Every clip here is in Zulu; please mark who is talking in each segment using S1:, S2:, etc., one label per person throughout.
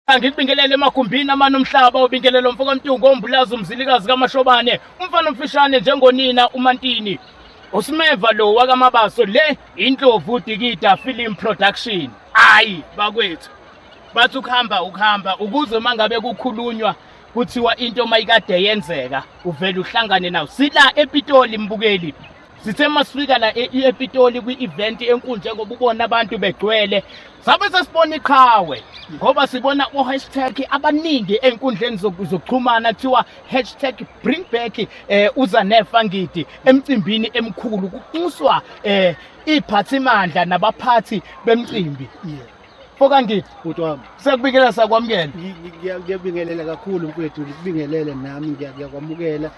S1: angikubingelele emagumbini amane omhlaba obingelelo mfo kamtungu ombulazi umzilikazi kamashobane umfana omfishane njengonina umantini usimeva lo wakamabaso le indlovu dikida film production ayi bakwethu bathi ukuhamba ukuhamba ukuze uma ngabe kukhulunywa kuthiwa into mayikade yenzeka uvele uhlangane nawo sila epitoli mbukeli sithe masifika la e-, e-, epitoli kwi-event enkulu njengoba ubona abantu begcwele sabe sesibona iqhawe ngoba sibona o-hashtag abaningi ey'nkundleni zokuxhumana kuthiwa hashtag bring back um eh, uzanefa ngidi emcimbini emkhulu kunxuswa um eh, iy'phathimandla nabaphathi bemcimbi Fokangidi bhuti wami. Sekubikela
S2: sakwamukela.
S1: Ngiyabingelela
S2: kakhulu mfethu, ngikubingelele nami ngiyakwamukela.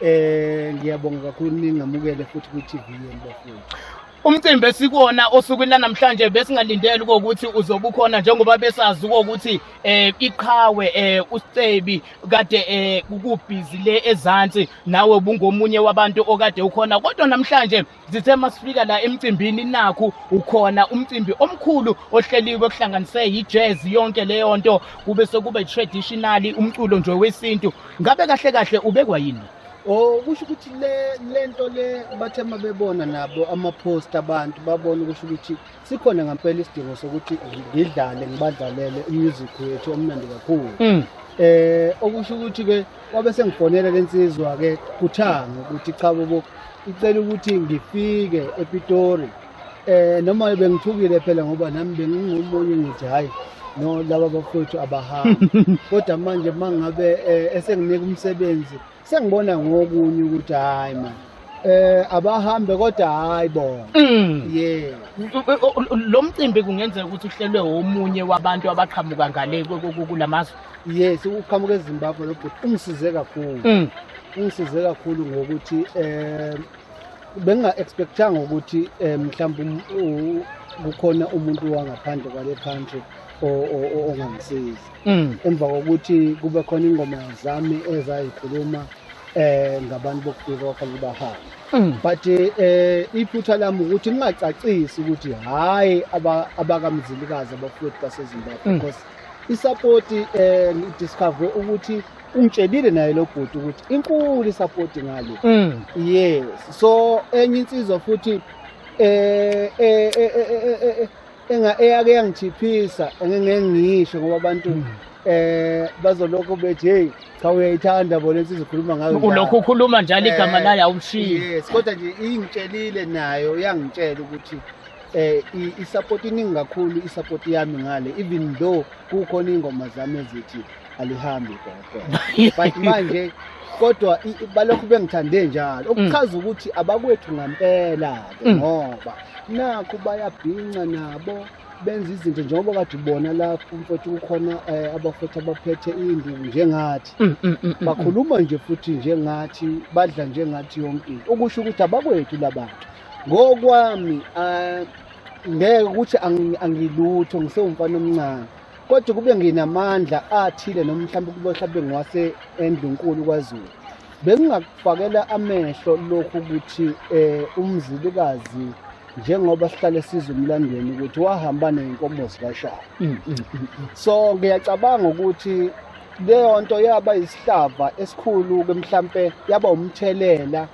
S2: Eh ngiyabonga kakhulu ningamukele futhi ku TV yenu bafowethu. Umcimbi
S1: esikwona osukwini lanamhlanje besingalindele ukuthi uzobukhona njengoba besazi ukuthi eh iqhawe eh uScebi kade eh ukubhizi le ezantsi nawe bungomunye wabantu okade ukhona kodwa namhlanje zithe masifika la emcimbini nakhu ukhona umcimbi omkhulu ohleliwe kuhlanganise yi-jazz yonke leyo nto kube sekuba i-traditionally umculo nje wesintu ngabe kahle kahle ubekwa yini Oh kusho ukuthi
S2: le lento le bathe mabebona nabo ama post abantu babona kusho ukuthi sikhona ngampela isidingo sokuthi ngidlale ngibadlalele umusic wethu omnandi kakhulu mm. eh okusho ukuthi ke kwabe sengifonela lensizwa ke kuthanga ukuthi cha bobo icela ukuthi ngifike ePitori eh noma bengithukile phela ngoba nami bengingomunye ngithi hayi no laba bafowethu abahambi kodwa manje mangabe eh, esenginika umsebenzi sengibona ngokunye ukuthi hayi ma eh abahambe kodwa hayi bona mm. yeah
S1: lo mcimbi kungenzeka ukuthi uhlelwe omunye wabantu abaqhamuka ngale kulamazwe yes uqhamuka
S2: eZimbabwe lo bhuti ungisize kakhulu mm. ungisize kakhulu ngokuthi eh benga expectanga ukuthi eh, mhlawumbe um, kukhona umuntu wangaphandle kwale country ongamsizi mm. emva kokuthi kube khona ingoma zami ezayikhuluma eh ngabantu bokufika kwafanele bahambe mm. but eh iphutha lami ukuthi ngingacacisi ukuthi hayi abakamzilikazi abafowethu baseZimbabwe mm. because isupport eh discover ukuthi ungitshelile naye lo bhuti ukuthi inkulu isupport ngale mm. yes so enye insizwa futhi eh eh eh, eh, eh, eh enga eyake yangithiphisa engingeke ngisho ngoba abantu hmm. eh bazolokho bethi hey cha uyayithanda bona insizwa ukhuluma ngayo ulokhu ukhuluma njalo
S1: eh, igama layo awumshiyi yes kodwa nje
S2: ingitshelile nayo yangitshela ukuthi eh i-support iningi kakhulu i-support yami ngale even though kukhona ingoma zami ezithi alihambi gogo but manje kodwa balokhu bengithande njalo mm. okuchaza ukuthi abakwethu ngampela ke mm. ngoba nakho bayabhinca nabo benza izinto njengoba kade ubona lapho mfowethu kukhona eh, abafowethu abaphethe induku njengathi mm, mm, mm, bakhuluma nje futhi njengathi badla njengathi yonke into okusho ukuthi abakwethu labantu ngokwami eh, ngeke ukuthi angilutho ngisewumfana omncane kodwa kube nginamandla athile noma mhlawumbe kube mhlawumbe ngiwase endlunkulu kwaZulu bengingakufakela amehlo lokhu ukuthi eh umzilikazi njengoba sihlale siza umlandweni ukuthi wahamba nenkomo zikashaya mm, mm, mm, so ngiyacabanga ukuthi leyo nto yaba isihlava esikhulu ke mhlampe yaba umthelela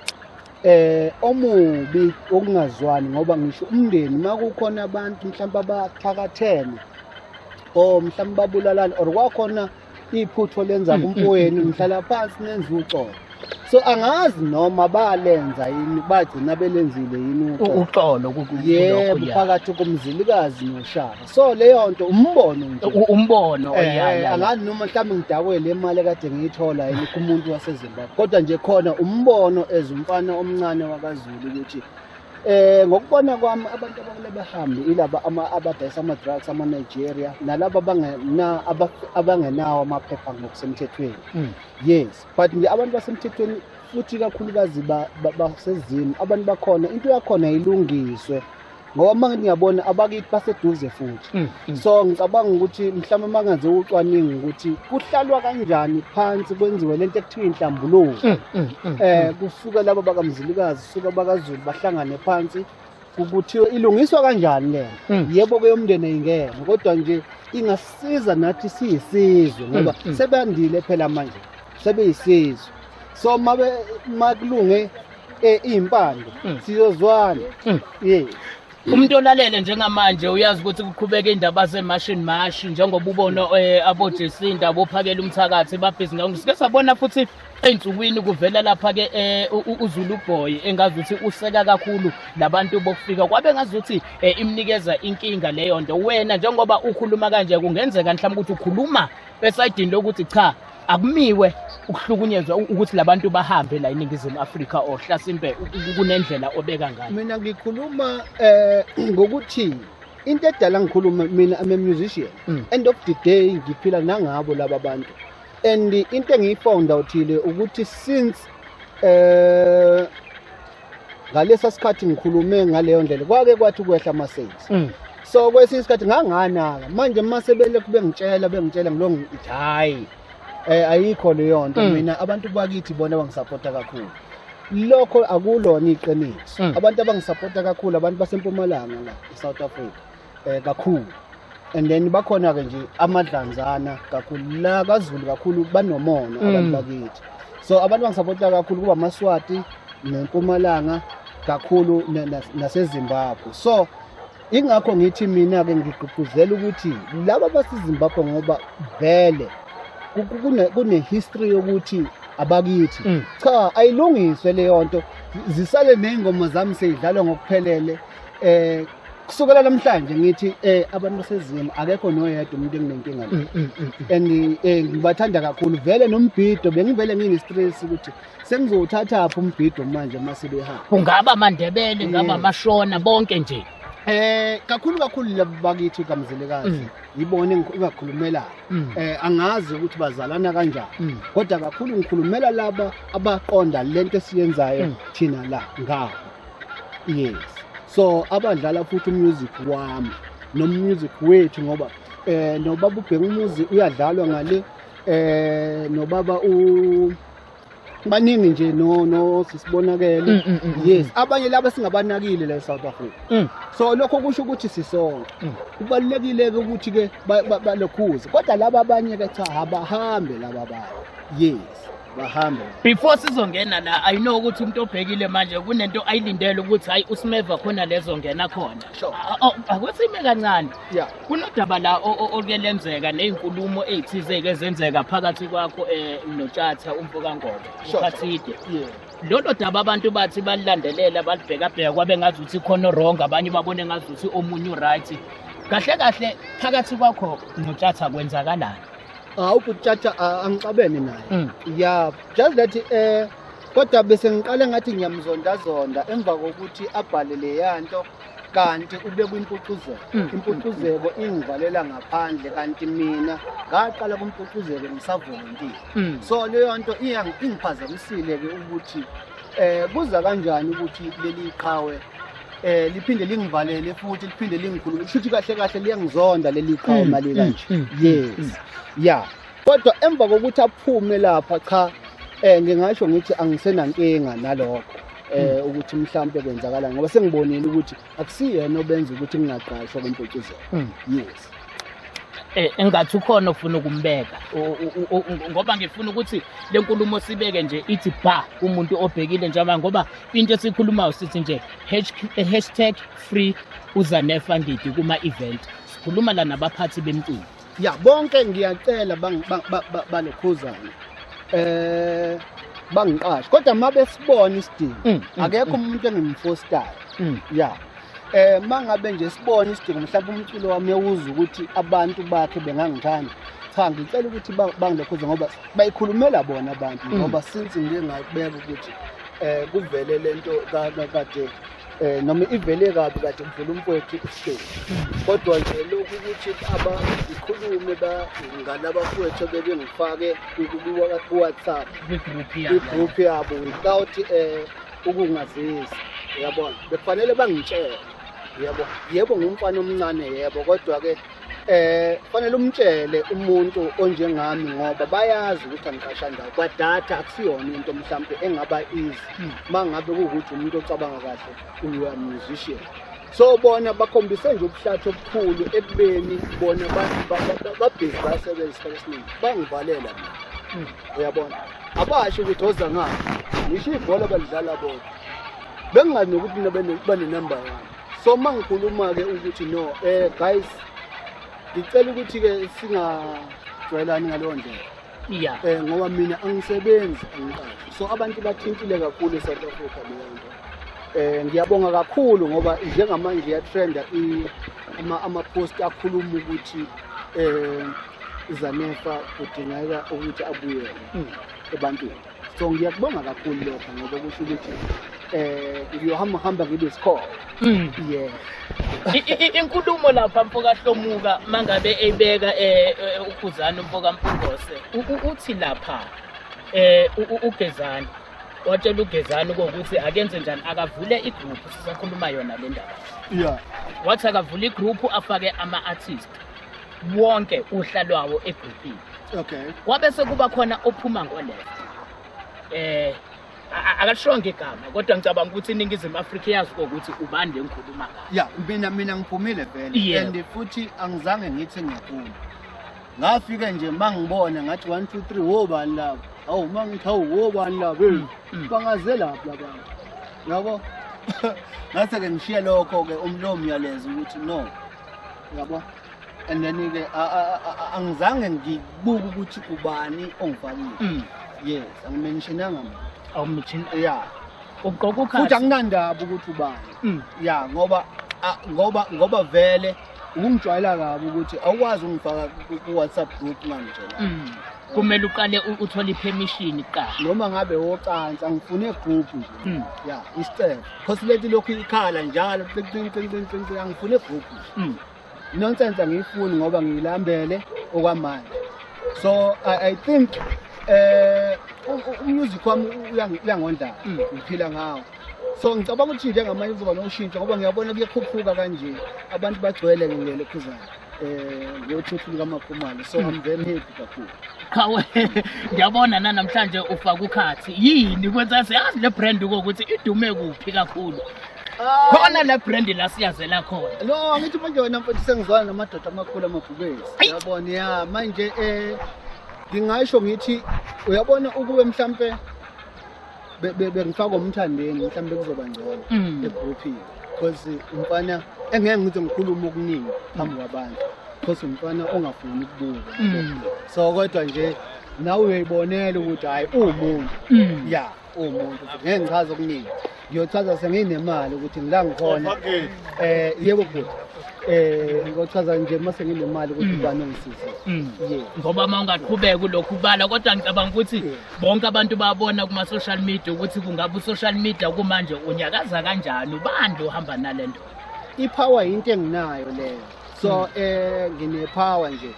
S2: eh omubi okungazwani ngoba ngisho umndeni makukhona abantu mhlawumbe abathakathene or mhlawumbe babulalana or kwakhona iphutho lenza mm, mm, kumpoweni mm, mhlala phansi nenza uxolo so angazi noma balenza yini bagcina belenzile yini uxolo
S1: yebo
S2: phakathi komzilikazi noshaka so leyo nto umbono nje U- umbono Eh, ya, ya, ya. angani noma mhlawumbe ngidakwe le mali kade ngiyithola yini kumuntu wasezimbabwe kodwa nje khona umbono as umfana omncane wakazulu ukuthi eh ngokubona kwami abantu abakule behambe ilaba ama- abadayisa ama-drugs ama-nigeria nalaba abangena- aba- abangenawo amaphepha ngokusemthethweni Mm. yes but nje abantu basemthethweni futhi kakhulukazi ba- ba- basezimu abantu bakhona into yakhona ilungiswe ngoba uma ngithi ngiyabona abakithi baseduze futhi mm, mm. so ngicabanga ukuthi mhlawumbe uma ngenze ucwaningo ukuthi kuhlalwa kanjani phansi kwenziwe le nto ekuthiwa inhlambuluko um mm, eh, kusuke laba bakamzilikazi suke bakazulu bahlangane phansi kuthiwa ilungiswa kanjani lena mm. yebo ke umndeni ayingene kodwa nje ingasiza nathi siyisizwe mm, ngoba mm. sebandile phela manje sebeyisizwe so mabe makulunge eh impande hmm. siyozwana hmm. yeah umuntu
S1: olalele njengamanje uyazi ukuthi kuqhubeka indaba zemashini mashi njengoba ubona eh, abojesinda abophakela umthakathi babhizi ngakho sike sabona futhi ey'nsukwini kuvela lapha-ke um uzulu boy engazi ukuthi useka kakhulu labantu bokufika kwabe ngazi ukuthi um eh, imnikeza inkinga leyo nto wena njengoba ukhuluma kanje kungenzeka mhlawumbe ukuthi ukhuluma esayidini lokuthi cha akumiwe ukuhlukunyezwa ukuthi labantu bahambe la eningizimu Afrika or hlasimpe kunendlela obeka ngayo mina ngikhuluma
S2: eh ngokuthi into edala ngikhuluma mina I'm a musician mm. end of the day ngiphila nangabo laba bantu and into engiyifound outhile ukuthi since eh ngalesa sikhathi ngikhulume ngaleyo ndlela kwake kwathi ukwehla ama-sales mm. so kwesinye isikhathi nganganaka manje uma sebele kube ngitshela bengitshela ngilo ngithi hhayi um ayikho leyo nto mm. mina abantu bakithi bona bangisapota kakhulu lokho akulona iqiniso mm. abantu abangisapota kakhulu abantu basempumalanga la e-south africa eh, kakhulu and then bakhona ke nje amadlanzana kakhulu la kaZulu kakhulu banomona mm. abantu bakithi so abantu bangisapota kakhulu kuba amaswati nempumalanga kakhulu nasezimbabwe so ingakho ngithi mina-ke ngigqugquzela ukuthi laba basezimbabwe ngoba vele kune-history yokuthi abakithi mm. cha ayilungiswe leyo nto zisale ney'ngoma zami seyidlalwa ngokuphelele um kusukela namhlanje ngithi eh abantu basezimu akekho noyedwa umuntu enginenkinga naye mm, mm, mm, and eh ngibathanda kakhulu vele nombhido bengivele ngine-stress ukuthi sengizowuthathaphi umbhido manje uma sebehamba ungaba amandebele
S1: ngaba amashona bonke nje Eh kakhulu
S2: kakhulu labo bakithi kamzilikazi mm. yibona engakhulumela mm. eh angazi ukuthi bazalana kanjani mm. kodwa kakhulu ngikhulumela laba abaqonda lento esiyenzayo thina la ngawo yes so abadlala futhi umusic wami nomusic wethu ngoba eh nobaba ubheka umuzi uyadlalwa ngale eh nobaba u baningi nje no no sisibonakele mm, mm, mm, yes abanye laba singabanakile la eSouth Africa so lokho kusho ukuthi sisonke kubalekile ke ukuthi ke balokhuze kodwa laba abanye ke cha abahambe laba abanye yes bahambe before sizongena
S1: la i know ukuthi umuntu obhekile manje kunento ayilindele ukuthi hayi usimeva khona lezo ngena khona akwesime kancane kunodaba la oke lenzeka nezinkulumo ezithizeke ezenzeka phakathi kwakho eh, notshatha umfoka ngoba ukhathide lolo daba abantu bathi balilandelela balibhekabheka kwabe ngazi ukuthi khona wrong abanye babone ngazi ukuthi omunye uright kahle kahle phakathi kwakho notshatha kwenzakalani hawu bhuti tjatja
S2: a- angixabene naye Mm. ya just that eh kodwa bese ngiqale ngathi ngiyamzondazonda emva kokuthi abhale leya nto kanti ube kwimpucuzeko Mm. impucuzeko ingivalela ngaphandle kanti mina ngaqala kumpucuzeko ngisavolontiya Mm. so leyo nto iyangi- ingiphazamisile-ke ukuthi eh kuza kanjani ukuthi leli qhawe eh liphinde lingivalele futhi liphinde lingikhulule kushuthi kahle kahle liyangizonda leli qhawe mali mm, kanje mm, mm, yes yeah kodwa emva kokuthi aphume lapha cha eh ngingasho ngithi angisenankinga nalokho eh ukuthi mhlawumbe kwenzakala ngoba sengibonile ukuthi akusiyena obenza ukuthi ngingaqashwa kwempotshizela yes Eh,
S1: engathi ukhona ofuna ukumbeka ngoba ngifuna ukuthi le nkulumo sibeke nje ithi ba umuntu obhekile njengoba ngoba into esikhulumayo sithi nje eh, hashtag free uzanefa ngidi kuma-event sikhuluma la nabaphathi bemculo ya bonke
S2: ngiyacela banokhuzane um bangiqashe kodwa uma besibona isidingo mm, mm, akekho mm. umuntu engimfostayo ya eh mangabe nje sibona isidingo mhlawumbe umculo wami ewuza ukuthi abantu bakhe bengangithanda cha ngicela ukuthi bangilokhuze ngoba bayikhulumela bona abantu mm. ngoba since ngike ngabeka ukuthi eh kuvele lento kade eh noma ivele kabi kade kuvela umfowethu isihleli kodwa nje lokhu ukuthi abakhulume ngalabafowethu bebengifake ku-whatsapp i-group yabo without um ukungazisa uyabona bekufanele bangitshele yebo yebo ngumfana omncane yebo kodwa ke eh fanele umtshele umuntu onjengami ngoba bayazi ukuthi angiqasha ndawo kwadata akusiyona into mhlawumbe engaba easy hmm. mangabe ukuthi umuntu ocabanga kahle uyu musician so bona bakhombise nje ubuhlathi obukhulu ekubeni bona babhizi basebenza isikhathi esiningi bangivalela mina uyabona abasho ukuthi oza ngani ngisho ibhola balidlala bona bengingazi nokuthi mina banenamba yami so uma ngikhuluma-ke ukuthi no um guys ngicela ukuthi-ke singajwayelani ngaleyo ndlela ya um eh, ngoba mina angisebenzi angiqashi so abantu bathintile kakhulu e-south africa leyo nto um ngiyabonga kakhulu ngoba njengamanje iyatrenda ama-post akhuluma ukuthi um uzanefa kudingeka ukuthi abuyele hmm. ebantwini so ngiyakubonga kakhulu lokho ngoba kusho ukuthi eh ngiyohamba hamba ngibe isikhona mm. yeah
S1: inkulumo lapha mfoka Hlomuka mangabe ebeka eh, eh ukhuzana mfoka Mpungose uthi lapha eh ugezani watshela ugezani ukuthi akenze njani akavule igroup sisakhuluma yona le ndaba yeah
S2: wathi akavule
S1: igroup afake ama artist wonke uhla lwawo egrupini okay kwabe
S2: sekuba khona
S1: ophuma ngoleft eh akashonge igama kodwa ngicabanga ukuthi iningizimu afrika iyazi kokuthi ubani le ngikhuluma ngayo ya mina mina ngiphumile
S2: vele and futhi angizange ngithi ngiyaphuma ngafike nje mangibona ngathi 1 2 3 wo bani labo awu mangithi awu wo bani labo mm, mm. bangaze lapho labantu yabo ngase ke ngishiye lokho ke umlomo yalezo ukuthi no yabo and then ke angizange ngibuke ukuthi ubani ongifakile mm. yes angimentionanga muntu awumention ya uqoqa ukhathi
S1: futhi anginandaba ukuthi
S2: ubani mm. ya ngoba ngoba ngoba vele ukungijwayela kabi ukuthi awukwazi ungifaka ku-whatsapp group ngangitshela mm. kumele uqale
S1: uthole ipermission kuqala noma ngabe wocansi
S2: angifune group nje mm. ya isicelo cause leti lokhu ikhala njalo angifune group nje Nonsense angiyifuni ngoba ngiyilambele okwamanje. So I, I think eh umusic wami uyangondla mm. ngiphila ngawo so ngicabanga ukuthi njengamanje kuzoba noshintsho ngoba ngiyabona kuyakhuphuka kanje abantu bagcwele ngilele khuzana eh yothuthu likaMakhumalo so I'm very happy kakhulu Hawe
S1: ngiyabona namhlanje ufaka ukhathi yini kwenza siyazi le brand ukuthi idume kuphi kakhulu khona la brand la siyazela khona lo angithi manje wena
S2: mfethu sengizwana namadoda amakhulu amabhubesi uyabona ya manje eh ngingasho ngithi uyabona ukube mhlampe bengifaka umthandeni mhlampe kuzoba ngcono mm. egrouphini because umfana engeke ngithi ngikhuluma okuningi phambi kwabantu because umfana ongafuni ukubuka mm. so kodwa nje nawe uyoyibonela ukuthi hayi uwumuntu mm. ya umuntu ngeke ngichaze okuningi ngiyochaza senginemali ukuthi ngila ngikhona eh yebo bhuti eh ngochaza nje mase nginemali ukuthi mm. ubani ongisize mm. ngoba uma
S1: ungaqhubeka kulokhu ubala kodwa ngicabanga ukuthi bonke abantu babona kuma social media ukuthi kungabe usocial media kumanje unyakaza kanjani ubani ohamba nalento ipower
S2: into enginayo leyo so mm. eh ngine power nje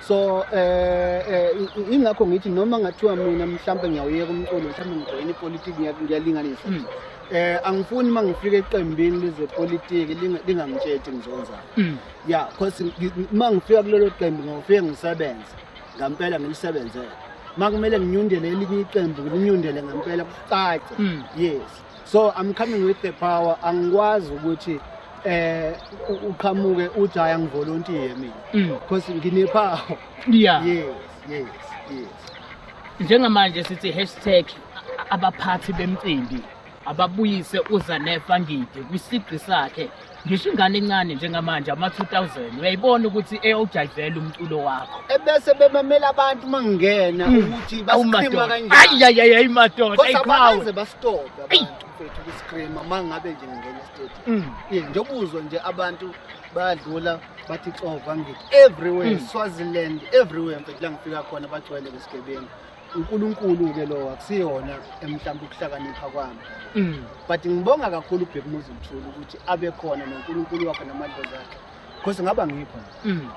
S2: so eh, eh ingakho ngithi noma ngathiwa mina mhlawumbe ngiyawuyeka umculo mhlawumbe ngijoyina ipolitiki ngiyalinganisa mm. eh angifuni uma ngifika eqembini lezepolitiki lingangitshethi ngizonzana mm. ya cause uma ngifika kulelo qembu ngiyofike ngisebenze ngampela ngilisebenzele makumele nginyundele elinye iqembu nginyundele ngempela kucace hmm. yes so i'm coming with the power angikwazi ukuthi eh uqhamuke uthi hayi angivolontiye mina mm. because nginepower yeah yes yes yes njengamanje
S1: sithi hashtag abaphathi bemcimbi ababuyise uzanefa ngidi kwisigqi sakhe ngisho ingane encane njengamanje ama-2000 uyayibona ukuthi eyawujayivela umculo wakho ebese bemamela
S2: abantu uma ngingena hmm. ukuthi basikhima kanjaniayiyayayi madoda
S1: ayiqhawe basitope
S2: abantu mfethu kusikhima uma ngabe nje ngingena esitedi hmm. njengoba uzwe nje abantu bayadlula bathi xova ngithi everywhere hmm. swaziland everywhere mfethu la ngifika khona bagcwele ngesigebengu uNkulunkulu-ke lowo akusiyona mhlawumbe ukuhlakanipha kwami mm. but ngibonga kakhulu ubheka umuzi mthula ukuthi abe khona nonkulunkulu wakhe namadlozi akhe because ngaba ngikho mm.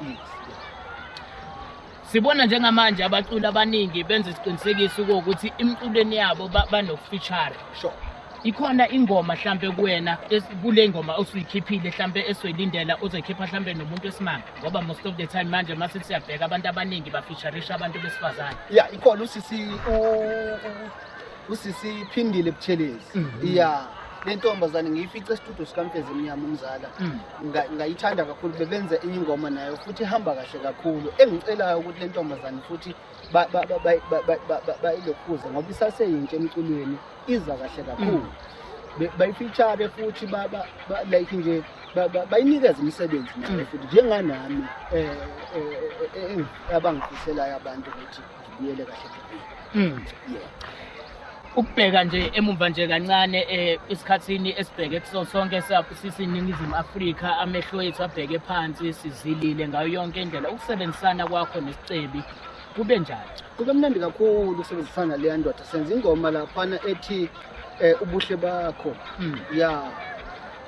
S1: sibona njengamanje abaculi abaningi benza isiqinisekiso ukuthi imiculweni
S2: yabo
S1: banokufeature sure ikhona ingoma hlampe kuwena kule ngoma osuyikhiphile hlampe esoyilindela ozoyikhipha hlampe nomuntu esimanga ngoba most of the time manje mase siyabheka abantu abaningi bafeaturisha abantu besifazane ya ikhona usisi
S2: usisi phindile buthelezi mhm. ya le ntombazane ngiyifice estudio sikamfezi emnyama umzala mm. ngayithanda kakhulu bebenza enye ingoma nayo futhi ihamba kahle kakhulu engicelayo ukuthi le ntombazane futhi bayilokuza ngoba isaseyintsha emculweni iza kahle kakhulu mm. bayifitshare futhi like nje bayinikeza imisebenzi nayo mm. futhi njenganami eh, eh, eh, abangifiselayo abantu ukuthi ngibuyele kahle mm. yeah
S1: ukubheka nje emumva nje kancane eh, esikhathini esibheke kuso sonke sisiningizimu afrika amehlo ethu abheke phansi sizilile ngayo yonke indlela ukusebenzisana kwakho nesicebi kube njani kube mnandi kakhulu
S2: ukusebenzisana leya ndoda senza ingoma laphana ethi um ubuhle bakho hmm. ya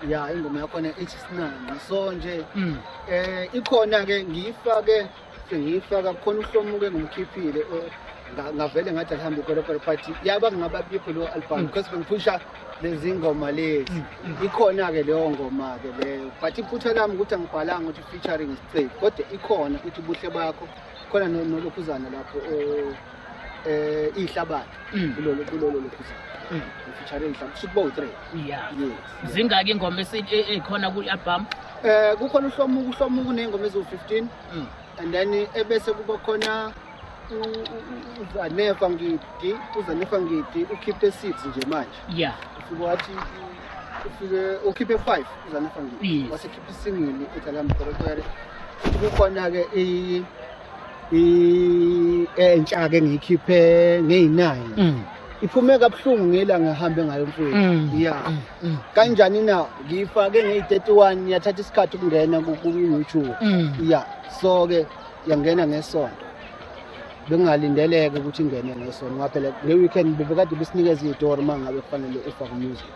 S2: ya ingoma yakhona ithi sinani so nje um ikhona-ke ngiyifake ngiyifaka khona uhlomuke ngimkhiphile ngavele ngathi alihambe ikolokolo but yaba ngingaba bikho leyo album mm. because bengiphusha lezi ngoma lezi mm, mm. ikhona-ke leyo ngoma-ke leyo but iphutha lami ukuthi angibhalanga ukuthi featuring isicebi kodwa ikhona ukuthi ubuhle bakho khona nolokhuzana lapho eh, eh ihlabathi Mm. kulolo kulolo lokuza Mm. ngifeaturing mhlawumbe kusho ukuba u-three yeah yes
S1: zingaki ingoma esi- e- ekhona kwi album eh kukhona
S2: uhlomuku uhlomuku ney'ngoma eziwu-15 Mm. and then ebese kuba khona u- u- u- uzanefa ngidi uzanefa ngidi ukhiphe six nje manje yeah ufike
S1: wathi
S2: ufike ukhiphe five uzanefa ngidi Yes. wasekhiphe isingili ethi alamqorokwere kukhona-ke i- entsha ke ngiyikhiphe ngeyinine mm. iphume kabuhlungu ngela ngihambe ngayo mfowethu mm. ya mm, kanjani na ngiyifake ngeyi-31 yathatha isikhathi ukungena ku-youtube ya so ke yangena ngesonto bengingalindeleke ukuthi ingene ngesonto ngaphela le weekend bebekade besinikeza iyitori uma ngabe kufanele ufake umusic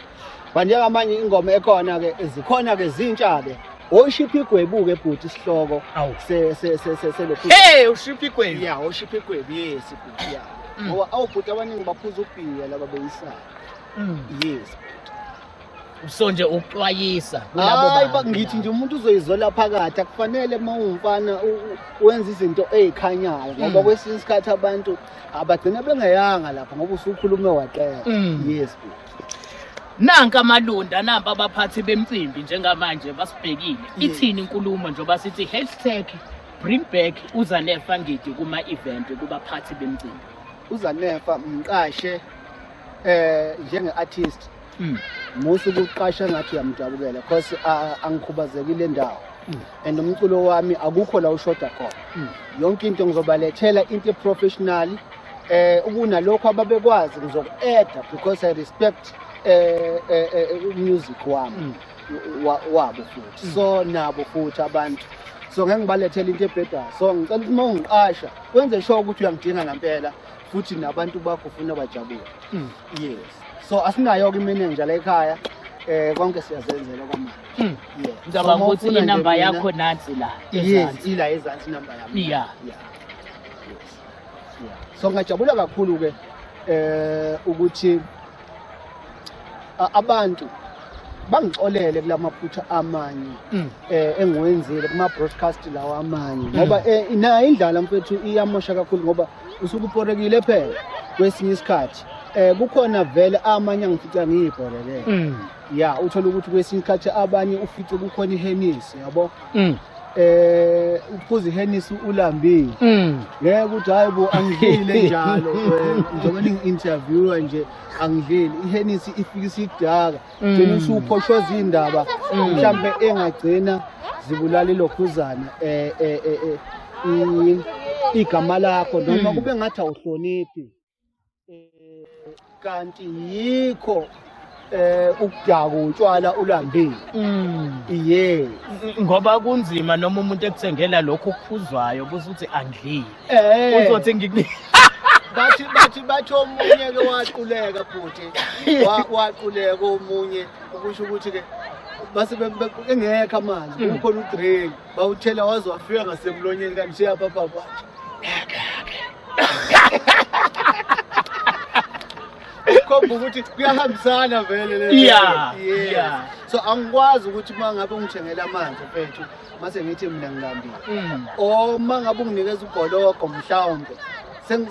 S2: banjengamanye ingoma ekhona ke zikhona ke zintsha ke oshipha igwebuke bhuti isihloko se se se se se lokhu hey ushipha igwebu
S1: yeah oshipha igwebu
S2: yes bhuti yeah mm. ngoba awubhuti abaningi baphuza ubhiya laba beyisana mm. yes
S1: so nje ukuxwayisa kulabo bantu ngithi nje umuntu uzoyizola
S2: phakathi akufanele uma ungumfana wenza izinto ezikhanyayo ngoba mm. kwesinye isikhathi abantu abagcina bengeyanga lapho ngoba usukhulume waqela yes bhuti
S1: Nanka amalunda namba abaphathi bemcimbi njengamanje basibhekile. Ithini inkulumo njengoba sithi hashtag bring back uzanefa ngidi kuma-event kubaphathi bemcimbi. uzanefa
S2: mqashe eh njenge-artist Mm. musa ukuqasha ngathi uyamjabukela cause a- angikhubazekile ndawo and umculo wami akukho la ushoda khona yonke into ngizobalethela into eprofessional eh ukunalokho ababekwazi ngizoku-adda because i respect eh, eh, eh, music wami mm. wabo futhi mm. so nabo futhi abantu so ngeke ngibalethele into ebhedayo so ngicela ukuthi uma ungiqasha wenze sure ukuthi uyangidinga ngampela futhi nabantu bakho ufuna bajabule mm. yes so asinayo-ke imenenja la ekhaya eh konke siyazenzela kwamanje hmm. yeah ngicabanga so,
S1: ukuthi inamba yakho nansi la yes ila ezansi
S2: inamba yami yeah yeah so ngingajabula kakhulu-ke eh ukuthi abantu bangixolele kulamaphutha amanye mm. eh engiwenzile kuma broadcast lawa amanye mm. ngoba eh, nayo indlala mfethu iyamosha kakhulu ngoba usuke uporekile phela kwesinye isikhathi eh kukhona vele amanye angifica ngiyibhorekele mm. ya uthole ukuthi kwesinye isikhathi abanye ufice kukhona ihenisi yabo mm. eh uphuza ihenisi ulambile mm. ngeke ukuthi hayi bo angidlile njalo eh, njengoba ningi-interviewa nje angidlile ihenisi ifike isidaka mm. gcina usuphoshoza iy'ndaba mhlawumbe engagcina zibulale lokhuzana um igama lakho noma kube ngathi awuhloniphi eh, kanti yikho eh ukudaku utshwala ulambile mm. yeah ngoba
S1: kunzima noma umuntu ekuthengela lokho okuphuzwayo kuze uthi angidlile eh. uzothi ngikunika bathi bathi
S2: bathi omunye ke waquleka futhi waquleka omunye ukusho ukuthi ke base engekho amanzi mm. kukhona udrink bawuthela waze wafika ngasemlonyeni kanti seyaphaphapha khomba ukuthi kuyahambisana vele le Yeah, Yes. yeah.
S1: so angikwazi
S2: ukuthi uma ngabe ungithengela amanzi mfethu mase ngithi mina ngilambile Mm. or uma ngabe unginikeza ubhologo mhlawumbe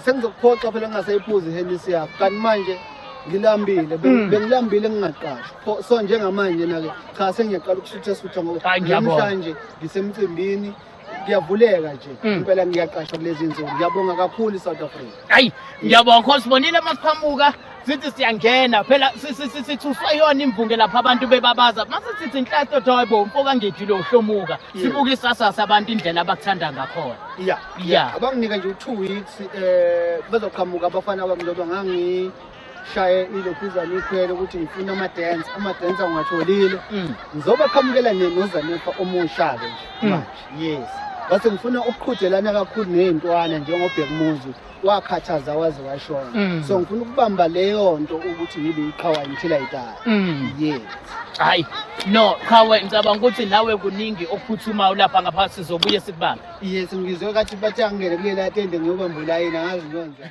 S2: sengizokuphoxa phela ngingasayiphuzi ihenisi yakho kanti manje ngilambile hmm. bengilambile ngingaqashwa so njengamanje na-ke cha sengiyaqala ukusutha-sutha ngokuamhlanje
S1: ngisemcimbini
S2: kuyavuleka nje hmm. impela ngiyaqashwa kulezi nsuku ngiyabonga kakhulu i-south africa hayi ngiyabonga
S1: khosibonile masiphamuka sithi siyangena phela sithuswe yona imvunge lapha abantu bebabaza mase sithi inhlanhla othi hayi bo mfoka ngejile uhlomuka sibuke isasasa abantu indlela abakuthanda ngakhona ya ya
S2: abanginike nje u2 weeks eh bezoqhamuka abafana bami ngoba ngangi shaye ilokhuzana ikhwele ukuthi ngifuna ama-dance ama-dance angiwatholile mm. ngizobaqhamukela nozanifa omusha-ke nje mm. manje yes base ngifuna ukuqhudelana kakhulu ney'ntwana njengobhekumuzi wakhathaza waze washona mm. so ngifuna ukubamba leyo nto ukuthi yibe iqhawa until i die mm. yes hayi
S1: no qhawe ngicabanga ukuthi nawe kuningi okuphuthumayo ulapha ngaphansi sizobuye sikubambe
S2: yes ngizwe kathi bathi angene kulela tende ngiyobamba ulayini
S1: angazi
S2: ngiyonza